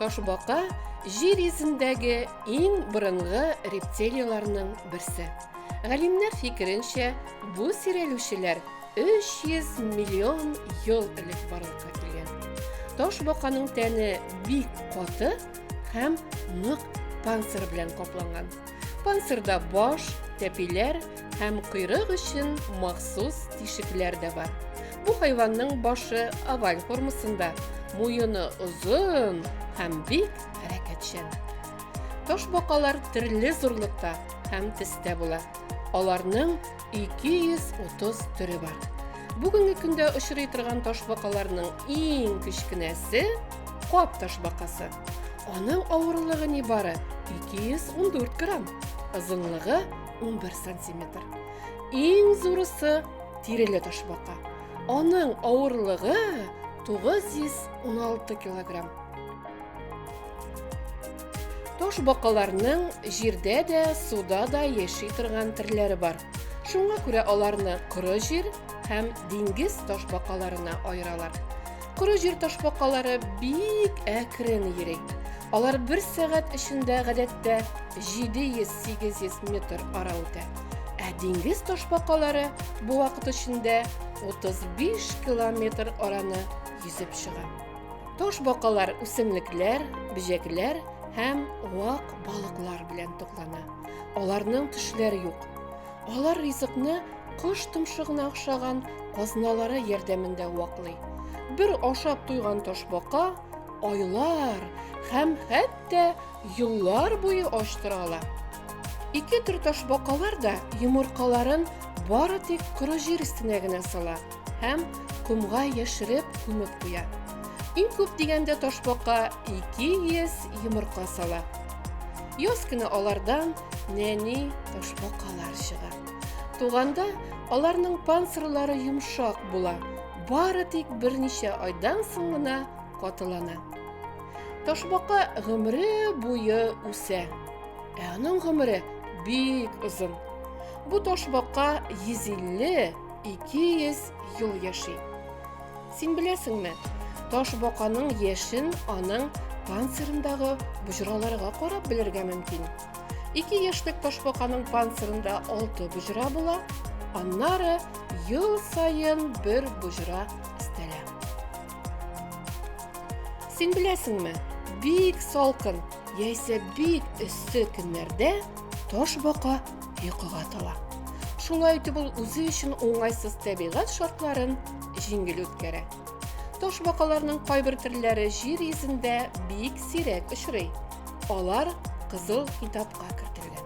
Ташбака җир йөзендәге иң борынгы рептилияләрнең берсе. Галимнәр фикеренчә, бу сирәлүчеләр 300 миллион ел элек барлыкка килгән. Ташбаканың тәне бик каты һәм нык панцирь белән капланган. Панцирда баш, тәпиләр һәм койрык өчен махсус тишекләр дә бар. Бу хайванның башы оваль формасында, муены озын һәм бик хәрәкәтчән. Ташбакалар төрле зурлыкта һәм төстә була. Аларның 230 төре бар. Бүгенге көндә очрый торган ташбакаларның иң кечкенәсе кап ташбакасы. Аның авырлыгы нибары 214 грамм, озынлыгы 11 сантиметр. Иң зурысы тиреле ташбака. Аның авырлыгы 916 килограмм. Таш бакаларның җирдә дә, суда да яши торган төрләре бар. Шуңа күрә аларны коры җир һәм диңгез таш бакаларына аералар. Коры җир таш бакалары бик әкрен йөри. Алар бер сәгать эчендә гадәттә 700-800 метр ара үтә. Ә диңгез таш бакалары бу вакыт эчендә 35 километр араны йөзеп чыга. Таш бакалар үсемлекләр, бөҗәкләр һәм вак балыклар белән туклана. Аларның төшләр юк. Алар ризыкны кош томшыгына охшаган казналары ярдәмендә ваклый. Бер ашап туйган ташбака айлар һәм хәтта еллар буе ач тора ала. Ике төр ташбакалар да йомыркаларын бары тик коры җир өстенә генә сала. Һәм комга яшереп күмеп куя. Иң күп дигәндә ташбака 200 йомырка сала. Яз көне алардан нәни ташбакалар чыга. Туганда аларның панцирлары йомшак була, бары тик берничә айдан соң гына катылана. Ташбака гомере буе үсә. Ә аның гомере бик озын. Бу ташбака 150 200 ел яши. Син беләсеңме? Таш баканың яшен аның панцирындагы боҗраларга карап белергә мөмкин. Ике яшьлек таш баканың панцирында алты боҗра була, аннары ел саен бер боҗра өстәлә. Син беләсеңме? Бик салкын, яисә бик эссе көннәрдә таш бака йокыга тала. Шулай итеп ул үзе өчен уңайсыз табигать шартларын җиңел үткәрә. Таш бакаларның кайбер төрләре җир йөзендә бик сирәк очрый. Алар кызыл китапка кертелгән.